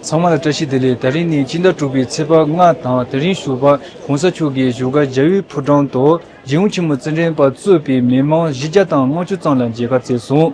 ཚང་མ་ལ་བཀྲ་ཤིས་བདེ་ལེགས་ད་རིང་ནི་སྤྱི་ཟླ་དྲུག་པའི་ཚེས་པ་ལྔ་དང་དེ་རིང་བཞུགས་པ་གོང་ས་མཆོག་གི་བཞུགས་སྒར་རྒྱ་བོད་ཕོ་བྲང་དུ་རྗེ་ཨུ་ཆེན་མོ་རྩེ་འགྲན་པ་གཙོས་པའི་མི་མང་བཞི་བརྒྱ་དང་ལྔ་བཅུ་ཙམ་ལ་མཇལ་ཁ་བསྩལ་སོང།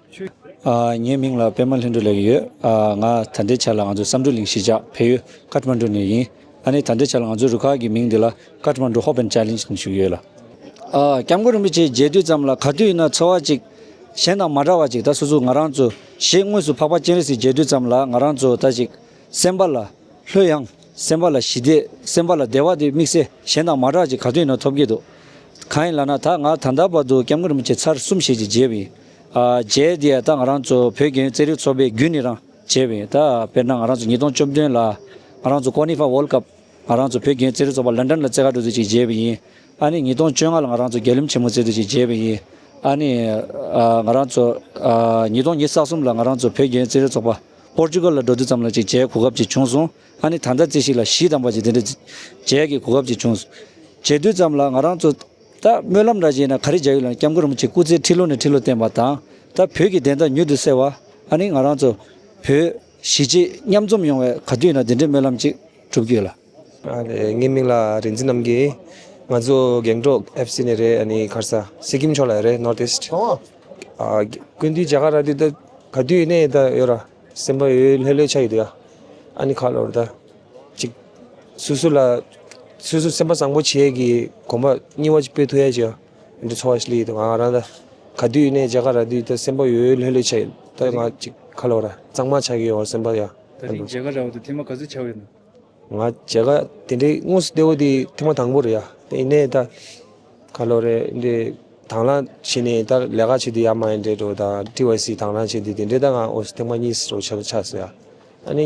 ངའི་མིང་ལ་པད་མ་ལྷུན་གྲུབ་ལེགས་ཡོད། ང་ད་ལྟའི་ཆར་ལ་ང་ཚོའི་བསམ་གྲུབ་གླིང་གཞིས་ཆགས་བལ་ཡུལ་ཀཱ་ཏི་མ་འགྲུ་ནས་ཡིན། ད་ནས་ད་ལྟའི་ཆར་ང་ཚོའི་རུ་ཁག་གི་མིང་འདི་ལ་ཀཱ་ཏི་མ་འགྲུ་ཧོ་པན་ཅཱ་ལིན་ཅི་ནས་བཞུགས་ཡོད་ལ། སྐྱབས་མགོན་རིན་པོ་ཆེས་མཇལ་དུས་ཙམ་ལ་ག་དུས་ཡིན་ན་ཚོར་བ་ཅིག་གཞན་དང་མ་འདྲ་བ་ཅིག་ད་སོ་སོ་ང་རང་ཚོ་ཞེས་དངོས་སུ་འཕགས་པ་སྤྱན་རས་གཟིགས་མཇལ་དུས་ཙམ་ལ་ང་རང་ཚོ་ད་ཅིག་སེམས་པ་ལ་ལྷོད་ཡངས་སེམས་པ་ལ་ཞི་བདེ་སེམས་པ་ལ་བདེ་བ་དེ་དམིགས་བསལ་གཞན་དང་མ་འདྲ་བ་ཅིག་ག་དུས་ཡིན་ན་ཐོབ་ཀྱི་འདུག་གང་ཡིན་ལ་ན་ད་ང་ད་ལྟ་བར་དུ་སྐྱབས་མགོན་རིན་པོ་ཆེ་ཚར་གསུམ་ཞེས་ཀྱི་མཇལ་བ་ཡིན། རྗེ་འདི་ད་ང་རང་ཚོ་བོད་རྒྱུན་རྩེད་རིགས་ཚོགས་པའི་རྒྱུན་ནི་རང་བྱས་བས་ད་དཔེར་ན་ང་རང་ཚོ་ཉིས་སྟོང་བཅོ་བདུན་ལ་ང་རང་ཚོ་ཀོ་ནི་ཧྥ་བོལ་སྐབས་ང་རང་ཚོ་བོད་རྒྱུན་རྩེད་རིགས་ཚོགས་པ་ལན་ཀྲན་ལ་རྩེད་ཁ་གྲུ་ཚུལ་ཅིག་བརྗེས་བས་ཡིན་ཨ་ནི་ཉིས་སྟོང་བཅོ་ལྔ་ལ་ང་རང་ཚོ་རྒྱལ་ལུམས་ཆེན་མོ་རྩེད་ཚུལ་ཅིག་བརྗེས་བས་ཡིན་ཨ་ནི་ང་རང་ཚོ་ཉིས་སྟོང་ཉིས་ས་གསུམ་ལ་ང་རང་ཚོ་བོད་རྒྱུན་རྩེད་རིགས་ཚོགས་པ་པོར་ཅུ་གུར་ལ་འགྲོ་དུས་ཙམ་ལ་ཅིག་བརྗེའི་གོ་སྐབས་ཅིག་བྱུང་སོང་ཨ་ནི་ད་ལྟ་རྩེ་ཞིག་ལ་གཞི་དམ་པ་ཅིག་འདི་འདྲ་བརྗེས་ཀྱི་གོ་སྐབས་ཅིག་བྱུང་བརྗེ་དུས་ཙམ་ལ་ང་རང་ཚོ། ད་སྨོན་ལམ་འདྲ་བྱས་ན་ག་རེ་བྱ་ཡུལ་ལ་སྐྱབས་མགོན་རིན་པོ་ཆེས་སྐུ་ཚེ་ཁྲི་ལོ་ནས་ཁྲི་ལོ་བརྟན་པ་དང་ད་བོད་ཀྱི་བདེན་མཐའ་མྱུར་དུ་གསལ་བ་ཨ་ནི་ང་རང་ཚོ་བོད་གཞིས་བྱེས་མཉམ་འཛོམས་ཡོང་བའི་ག་དུས་ན་དེ་འདྲའི་སྨོན་ལམ་ཅིག་གྲུབ་རྒྱུ་ལ། ངའི་མིང་ལ་རིན་ཆེན་རྣམ་རྒྱལ། ང་ཚོ་རྒན་འབྲོག་ཨེ་བྷི་སི་ནས་རེད་ཨ་ནི་ཁར་ས་སིཀིམ་ཕྱོགས་ལ་རེད North East ཀུན་དུས་རྒྱ་གར་ར་དུས་ད་ག་དུས་ནས་ད་ཡོད་ར་སེམས་པ་ཡོད་ལྷོད་ལྷོད་ཆགས་ཡོད་དུས་ཨ་ནི་ཁ་ལོར་ད། ཅིག། སོ་སོ་ལ། སོ་སོ་སེམས་པ་བཟང་པོ་བྱས་ཀྱི་གོམ་པ་རྙིང་བ་ཅིག་སྤོས་ཐུ་ཡ་ཅིག། འདི་འཚོ་བ་ཞིག་ལ་ཡིད་དང། ག་དུས་ནས་རྒྱ་གར་ར་དུས་ད་སེམས་པ་ཡོད་ཡོད་ལྷོད་ལྷོད་བྱས་ད་ང་ཅིག་ཁ་ལོ་ར་གཙང་མ་ཆགས་ཀྱི་ཡོད་སེམས་པ་ཡ། ད་རིང་རྒྱ་གར་ར་བ་དུ་ཐེངས་མ་ག་ཚོད་ཆགས་ཡོད་ན། ང་རྒྱ་གར་དེ་འདྲའི་དངོས་སུ་ལྟེ་བ་དེ་ཐེངས་མ་དང་པོ་རེད་ཡ་དེ་ཡིན་ནས་ད། ཁ་ལོ་རེ་འདི་དང་བླང་བྱས་ནས་ད་ལས་ཀ་བྱས་དུས་ཡ་མ་ཡིན་དྲེད་དྲོ་ད་ཏྲི་བྷའི་སི་དང་བླང་བྱས་དུས་དེ་འདྲའི་ད་ང་འོ་སི་ཐེངས་མ་གཉིས་སུ་རོ་ཆགས་ཆགས་སོ་ཡ། ཨ་ནི།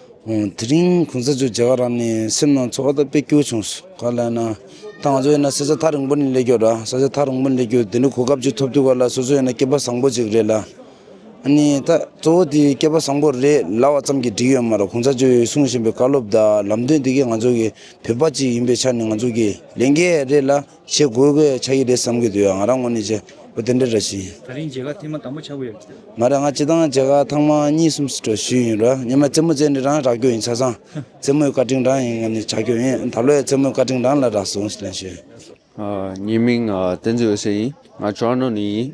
དེ་རིང་གོང་ས་མཆོག་མཇལ་བ་རག་ནས་སེམས་ནང་ཚོར་བ་དང་དཔེ་སྐྱོ་བྱུང། ག་ལ་ཡིན་ན། ད་ང་ཚོ་ཡིན་ན་ས་ཆ་ཐག་རིང་པོ་ནས་སླེབས་རྒྱུ་ར་ས་ཆ་ཐག་རིང་པོ་ནས་སླེབས་རྒྱུ་དེ་འདྲའི་གོ་སྐབས་ཅིག་ཐོབ་ཐུབ་ག་ལ་སོ་སོ་ཡིན་ན་སྐྱེས་པ་བཟང་པོ་ཅིག་རེད་ལ། ནི་ད་གཙོ་བོ་དེ་སྐྱེས་པ་བཟང་པོ་རེད་ལབ་བ་ཙམ་གྱིས་འགྲིག་ཡོད་མ་རེད་གོང་ས་མཆོག་གིས་གསུང་བཞིན་པའི་བཀའ་སློབ་དང་ལམ་སྟོན་དེ་གས་ང་ཚོ་གི་བོད་པ་ཅིག་ཡིན་པའི་ཆ་ནས་ང་ཚོ་གི་ལས་འགན་རེད་ལ། བྱེད་དགོས་པའི་ཆ་ཡིག་རེད་བསམ་གྱི་འདུག་ཡ་ང་རང་ངོ་ནས་བྱེད་དགོས་དེ་འདྲ་འདྲ་བྱེད་ཡིན། ད་རིང་བྱེད་ཁག་ཐེངས་མ་དང་པོ་ཆགས་གི་ཡོད། མ་རེད་ང་བྱེད་སྟངས་བྱེད་ཁག་ཐང་མ་གཉིས་གསུམ་སུ་གྲོ་ཞུས་ཡིན་རོ་ཉི་མ་རྩེད་མོ་རྩེད་འདི་རང་རག་རྒྱུ་ཡིན་ཆ་ཚང་རྩེད་མོའི་བཀའ་དྲིན་རང་ཡིན་ངོ་ནས་བྱ་རྒྱུ་ཡིན་ད་ལོའི་རྩེད་མོའི་བཀའ་དྲིན་རང་ལ་རག་སོང་ཞེས་ལན་ཞུས། ངའི་མིང་བསྟན་འཛིན་འོད་ཟེར་ཡིན་ང་ཅོ་ཨ་ནོ་ནས་ཡིན།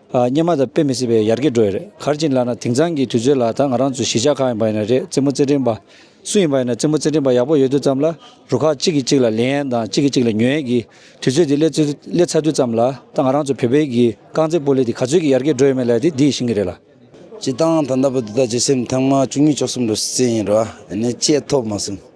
སྙན་མ་དང་དཔེ་མི་སྲིད་པའི་ཡར་གྱི་འགྲོ་ཡི་རེད་གར་གྱིན་ལགས་ན་དེང་སང་གྱི་དུས་ཚོད་ལ་ད་ང་རང་ཚོ་གཞིས་ཆགས་གང་ཡིན་པ་ཡིན་ན་རེད་རྩེད་མོ་རྩེད་འགྲན་པ། སུ་ཡིན་པ་ཡིན་ན་རྩེད་མོ་རྩེད་འགྲན་པ་ཡག་པོ་ཡོད་དུས་ཙམ་ལ་རུ་ཁག་གཅིག་གིས་གཅིག་ལ་ལེན་ཡན་དང་གཅིག་གིས་གཅིག་ལ་ཉོན་ཡན་གྱི་དུས་ཚོད་དེ་སླེ་སླེ་ཚར་དུས་ཙམ་ལ་ད་ང་རང་ཚོ་བོད་པའི་གྱི་རྐང་རྩེད་སྤོ་ལེ་དེ་ག་ཚོད་ཀྱི་ཡར་གྱི་འགྲོ་ཡོད་མེད་ལ་དེ་འདི་ཞིང་གི་རེད་ལ། བྱེད་སྟངས་ད་ལྟ་བུ་འདི་དག་བྱེད་སེམས་ཐེངས་མ་བཅུ་གཉིས་བཅུ་གསུམ་ལོ་སྲིད་ཡིན་རུང་ཨ་ནི་བྱེད་ཐོབ་མ་སོང།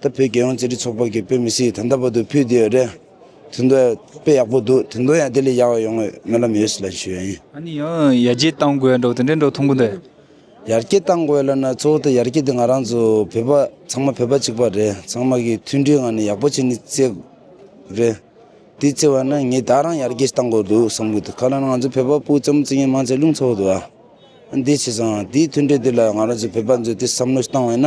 ད་བོད་རྒྱལ་ཡོངས་རྩེད་འགྲན་ཚོགས་པ་གི་བོད་མི་སི་ད་ལྟ་བར་དུ་ཕུད་དེ་ཡོད་རེད། དེ་འདོད་དཔེ་ཡག་པོ་འདུག་དེ་འདོད་ཡང་དེ་ལས་ཡག་ཡོང་ངོས་སྨོན་ལམ་ཡོད་སི་ལ་ཞུ་ཡ་ཡིན། ཨ་ནི་ཡང་ཡར་རྒྱས་གཏང་དགོས་འགྲོ་དེ་འདྲའི་འགྲོ་ཐུང་གུ་འདུག། ཡར་རྒྱས་གཏང་དགོས་ལ་ན་གཙོ་བོ་དེ་ཡར་རྒྱས་དེ་ང་རང་ཚོ་བོད་པ་ཚང་མ་བོད་པ་གཅིག་པ་རེད་ཚང་མ་གི་མཐུན་སྒྲིལ་ངང་ནས་ཡག་པོ་བྱེད་ནི་རྩེ་དགོས་རེད། དེ་རྩེ་བ་ན་ངེད་ད་རང་ཡར་རྒྱས་ཞིག་གཏང་དགོས་འདུག་བསམ་གི་འདུག་ཁ་ལ་ང་ཚོ་བོད་པ་སྤུ་ལྕམ་རྩེ་ངན་མང་ཚད་རླུང་འཚོ་བ་འདུག་ཨ་ཨ་འདི་བྱས་སང་དེའི་མཐུན་སྒྲིལ་དེ་ལ་ང་རང་ཚོ་བོད་པ་ཚོས་དེ་བསམ་བློ་ཞིག་གཏང་བས་ན།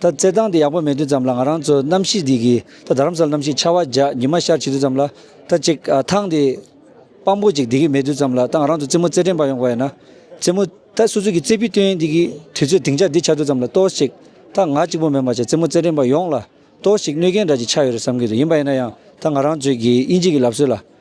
ད་བརྩེ་འདང་དེ་ཡག་པོ་མེད་དུས་ཙམ་ལ་ང་རང་ཚོ་གནམ་གཤིས་འདི་གི་ད་དར་མ་ས་ལ་གནམ་གཤིས་ཆར་བ་འཇགས་ཉི་མ་ཤར་བྱེད་དུས་ཙམ་ལ་ད་ཅིག་ཐང་དེ་དཔང་པོ་ཅིག་འདི་གི་མེད་དུས་ཙམ་ལ་ད་ང་རང་ཚོ་རྩེད་མོ་རྩེད་དྲན་པ་ཡོང་གི་བ་ཡིན་ན་རྩེད་མོ་ད་སོ་སོ་གི་རྩེད་པི་སྟོན་འདི་གི་དུས་ཚོད་དིང་ཆ་འདི་ཆགས་དུས་ཙམ་ལ་ཏོག་ཅིག་ད་ང་གཅིག་པོ་མེད་མ་ཆགས་རྩེད་མོ་རྩེད་དྲན་པ་ཡོང་ལ་ཏོག་ཅིག་གནོད་སྐྱེལ་འདྲ་ཅིག་ཆགས་ཡོད་རེད་བསམ་གི་འདུག་ཡིན་པ་ཡིན་ན་ཡང་ད་ང་རང་ཚོའི་གི་དབྱིན་ཇིག་གི་ལབ་སྲོལ་ལ་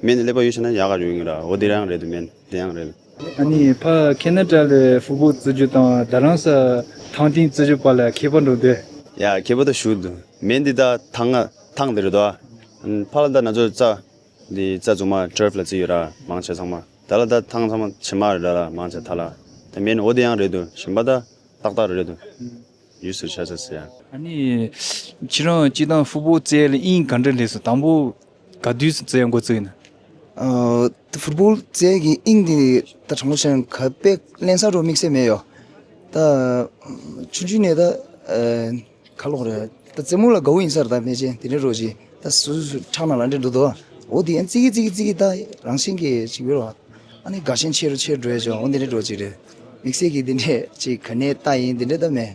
སྨན་ནི་ཀླད་པ་ཡོད་ཕྱིན་ན་ཡག་ག་ཡོད་ངེས་ར་འོ་དེ་རང་རེད་དོ་སྨན་དེ་ཡང་རེད། ཨ་ནི་ཕ་ཁེ་ན་ཏྲ་ལས་ཧྥུ་པོ་བཙི་རྒྱུ་དང་ད་རང་ས་ཐང་ཏིང་བཙི་རྒྱུ་པ་ལ་ཁེ་པ་འགྲོ་འདོད། ཡ་ཁེ་པ་ད་ཞུ་དོ་སྨན་འདི་ད་ཐང་ང་ཐང་དེ་རེད་དོ་ཨ། ཕ་ལ་ད་ན་ཚོ་རྩ་འདི་རྩ་རྫུ་མ་ཏྲེར་ལ་བཙི་ཡོད་ར་མང་ཆེ་ཚང་མ་ད་ལ་ད་ཐང་ཚང་མ་ཕྱི་མ་རེད་ར་མང་ཆེ་ད་ལ་ད་སྨན་འོ་དེ་ཡང་རེད་དོ་ཞིམ་པ་ད་ཏག་ཏག་རེད་དོ་ཡུས་སུ་ཆ་ས་སེ་ཡ། ཨ་ནི་ཁྱེད་རང་སྐྱིད་ཐང་ཧྥུ་པོ་བཙའི་ལ་དབྱིངས་ག་འདྲ་ལེགས་སོ་དང་པོ་ག་དུས་སུ་བཙལ་མགོ་བཙུགས་ནས། ཧྥུ་པོ་ཙེ་གི་དབྱིངས་འདི་ད་དྲང་པོ་ཆེ་ཡང་ག་པེ་བརླན་ས་རུ་དམིགས་བསལ་མེད་ཡོད། ད་ཆུང་ཆུང་ནས་ད་ག་ལོག་རེད། ད་རྩེད་མོ་ལ་དགའ་བོ་ཡིན་ས་རེད་ད་མེ་ལྕེ་དེ་འདྲའི་རོ་བཞིན་ད་སུ་སུ་ཁྲག་ནང་ལ་འདྲེ་འགྲོ་འདུག་འོ་དེ་ཡང་བརྩེ་གི་བརྩེ་གི་བརྩེ་གི་ད་རང་བཞིན་གྱི་ཅིག་ཡོད་རེད། ཨ་ནི་དགའ་ཞེན་ཆེ་རུ་ཆེ་རུ་འགྲོ་ཡོད་ཅིག་འོ་འདི་འདྲའི་རོ་ཅིག་རེད། དམིགས་བསལ་གྱི་འདི་འདྲའི་ཅིག་ག་ནས་ད་ཡིན་འདི་འདྲའི་ད་མེད།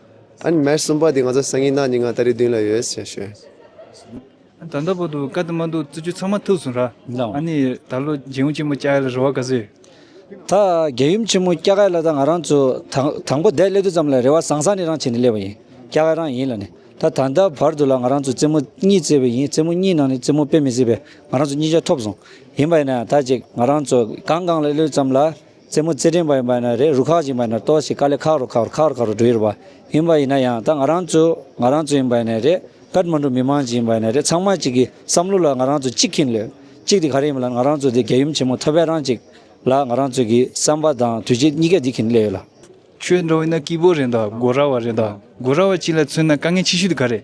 ཨ་ནི་མར་གསུམ་པ་དེ་ང་ཚོ་སང་ཉིན་ནག་ཉི་ང་ད་རེས་བདུན་ལ་ཡོད་ཞེས་ཞུས། ད་ལྟ་བར་དུ་བཀའ་དེ་མ་འདུག་བརྩི་རྒྱུ་ཚང་མ་ཐུགས་སུ་ར། ཨ་ནི་ད་ལོ་རྒྱལ་ཡུམ་ཆེན་མོ་སྐྱ་ག་ལ་རེ་བ་ག་ཚོད་ཡོད། ད་རྒྱལ་ཡུམ་ཆེན་མོ་སྐྱ་ག་ལ་ད་ང་རང་ཚོ་དང་པོ་བསྡད་སླེབས་དུས་ཙམ་ལ་རེ་བ་བཟང་བཟང་ནི་རང་བྱས་ནས་སླེབས་པ་ཡིན་སྐྱ་ག་རང་ཡིན་ལ་ནི་ད་ད་ལྟ་བར་དུ་ལ་ང་རང་ཚོ་རྩེད་མོ་གཉིས་རྩེས་པ་ཡིན་རྩེད་མོ་གཉིས་ནང་ནས་རྩེད་མོ་དཔེ་མི་སྲིད་པས་ང་རང་ཚོ་གཉིས་ཆ་ཐོབ་སོང་ཡིན་པ་ཡིན་ན་ད་ཅིག་ང་རང་ཚོ་གང་གང་ལ་སླེབས་ཙམ་ལ་རྩེད་མོ་རྩེད་ཕྲེང་བ་ཡིན་པ་ཡིན་ན་རེད་རུ་ཁག་ཅིག་ཡིན་པ་ཡིན་ན་ཏོག་ཅིག་དཀའ་ལས་ཁག་རུ་ཁག་རུ་ཁག་རུ་ཁག་རུ་འགྲོ་ཡི་རུ་བ་ཡིན་པ་ཡིན་ན་ཡང་ད་ང་རང་ཚོ་ང་རང་ཚོ་ཡིན་པ་ཡིན་ན་རེད་ཀར་མ་འགྲོ་མི་མང་ཅིག་ཡིན་པ་ཡིན་ན་རེད་ཚང་མ་གཅིག་གི་བསམ་བློ་ལ་ང་རང་ཚོ་གཅིག་གིན་ལོས་གཅིག་དེ་ག་རེ་ཡིན་པ་ལ་ང་རང་ཚོ་དེ་རྒྱལ་ཡུམ་ཆེན་མོ་ཐོད་པའི་རང་གཅིག་ལ་ང་རང་ཚོ་གི་བསམ་པ་དང་དུས་བྱེད་གཉིས་ཀ་འདི་གིན་ལེ་ཡོད་ལ། ཁྱོད་འགྲོ་ཡིན་ན་སྐྱིད་པོ་རེད་འདའ་དགོ་ར་བ་རེད་འདའ་དགོ་ར་བ་གཅིག་ལ་མཚོན་ན་དཀའ་ངལ་ཆེ་ཤོས་དེ་ག་རེད།